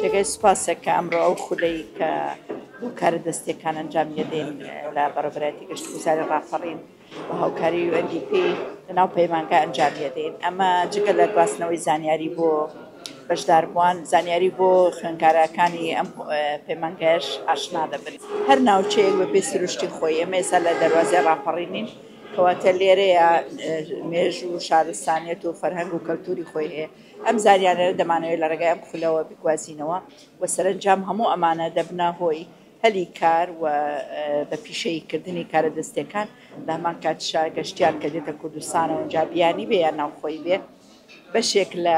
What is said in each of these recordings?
جێگای سوپاسە کە ئەمڕۆ ئەو خولەی کە بۆ کارە دەستیەکان ئەنجامی دەدەین لە بەڕێوبەرایەتی گەشتوگوزاری ڕاپەڕین بە هاوکاری UNDP لەناو پەیمانگا ئەنجامی دەدەین ئەمە جگە لە گواستنەوەی زانیاری بۆ بەشداربووان زانیاری بۆ خوێنکارەکانی ئەم پەیمانگەش ئاشنا دەبن هەر ناوچەیەک بە پێ سروشتی خۆی ئێمەێسا لە دەواازی ڕاپەڕینین کەواتە لێرەیە مێژ و شارستانیت و فەرهەنگ و کەلتوری خۆی هەیە ئەم زانیاریانە دەمانەوێت لە ڕێگای ئەم خولەوە بیگوازینەوە و سەرەنجام هەموو ئەمانە دەبنە هۆی هەلی کار و بە پیشەیی کردنی کارە دەستیەکان لە هەمان کاتشا گەشتیار کە دێتە کوردستانەوە ئەنجا بیانی بێ یان ناوخۆی بێ بەشێک لە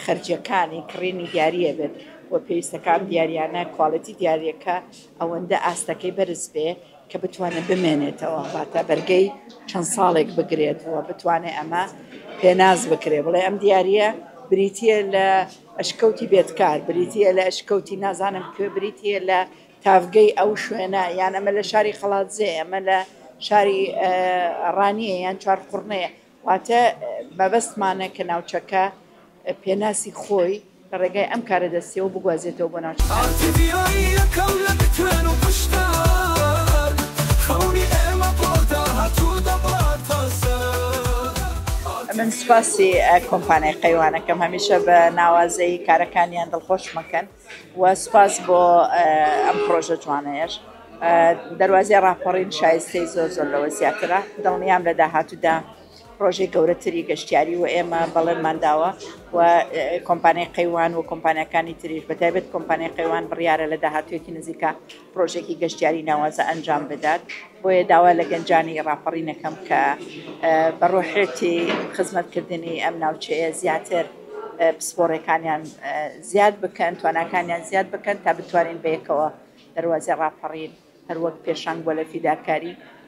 خەرجیەکانی کڕینی دیاریە بێت و پێویستەکان دیاریانە کوالەتی دیارەکە ئەوەندە ئاستەکەی بەرز بێ کە بتوانێت بمێنێتەوە واتە بەرگەی چەند ساڵێک بگرێت و بتوانێت ئەمە پێناس بکرێت بڵێ ئەم دیارە بریتە لە ئەشکەوتی بێتکار بریتە لە ئەشکەوتی نازانم کوێ بریتە لە تاڤگەی ئەو شوێنە یان ئەمە لە شاری خەڵاتزێ ئەمە لە شاری ڕانیە یان چوارقڕنەیە واتە مەبەستمانە کە ناوچەکە پێناسی خۆی لە ڕێگای ئەم کارە دەستیەوە بگوازێتەوە بۆ ناوچەکانی تر. من سوپاسی کۆمپانیای قەیوانەکەم هەمیشە بە ناوازەیی کارەکانیان دڵخۆشمەکەن. و سوپاس بۆ ئەم پڕۆژە جوانەیەش دەروازەی ڕاپەڕین شایستەی زۆر زۆر لەوە زیاترە دڵنیام لە داهاتوودا پرۆژەی گەورەتری گەشتیاری و ئێمە بەڵێنمان داوە و کۆمپانیای قەیوان و کۆمپانیەکانی تریش بەتابێت کۆمپانیای قەیوان بڕیارە لە داهاتوێکی نزیکە پرۆژەیەکی گەشتیاری ناوازە ئەنجام بدات، بۆیە داوا لە گەنجانی ڕاپەڕین ئەکەم کە بە ڕۆحێتی خزمەتکردنی ئەم ناوچەیە زیاتر پسپۆڕیەکانیان زیاد بکەن، تواناکانیان زیاد بکەن تا بتوانین بەیەکەوە دەروازەی ڕاپەڕین هەروەک پێشەنگ بووە لە فیداکاری،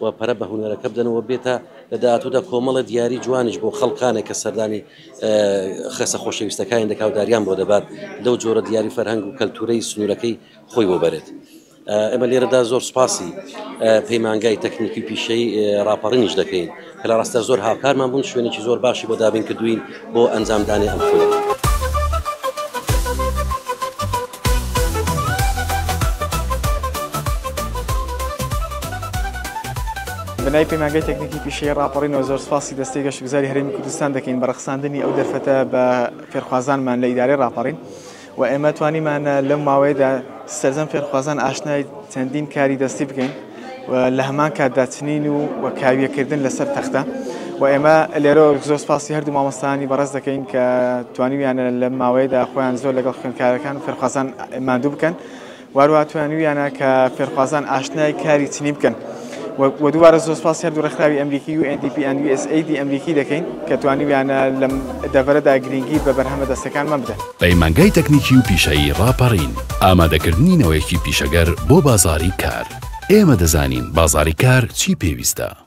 و پەرە بە هونەرەکە بدەن و بێتە لە داهاتوودا کۆمەڵە دیاری جوانیش بۆ خەڵکانێک کە سەردانی خەسە خۆشەویستەکانی دەکا و داریان بۆ دەبات لەو جۆرە دیاری فەرهەنگ و کەلتورەی سنوورەکەی خۆی بۆ بەرێت. ئێمە لێرەدا زۆر سپاسی پەیمانگای تەکنیکی پیشەی ڕاپەڕینیش دەکەین کە لە ڕاستە زۆر هاوکارمان بوون شوێنێکی زۆر باشی بۆ دابین کردوین بۆ ئەنجام دانی ئەم خولە. بنای پەیمانگەی تەکنیکی پیشەیی ڕاپەڕینەوە زۆر سپاسی دەستەی گەشتگوزاری هەرێمی کوردستان دەکەین بە ڕەخساندنی ئەو دەرفەتە بە فێرخوازانمان لە ئیدارەی ڕاپەڕین. و ئێمە توانیمان لەم ماوەیەدا سەرجەم فێرخوازان ئاشنای چەندین کاری دەستی بکەین و لە هەمان کاتدا چنین و و کاویەکردن لەسەر تەختە و ئێمە لێرە زۆر سپاسی هەردوو مامۆستانی بەڕێز دەکەین کە توانیویانە لەم ماوەیەدا خۆیان زۆر لەگەڵ خوێندکارەکان و فێرخوازان ماندوو بکەن وهروها توانیویانە کە فێرخوازان ئاشنای کاری چنی بکەن و دووبارە زۆر سپاسی هەردوو ڕێکخراوی ئەمریکی و NDP and USAID ئەمریکی دەکەین کە توانیویانە لەم دەڤەرەدا گرنگی بە بەرهەمە دەستەکانمان بدەن. پەیمانگای تەکنیکی و پیشەیی ڕاپەڕین، ئامادەکردنی نەوەیەکی پیشەگەر بۆ بازاڕی کار. ئێمە دەزانین بازاڕی کار چی پێویستە.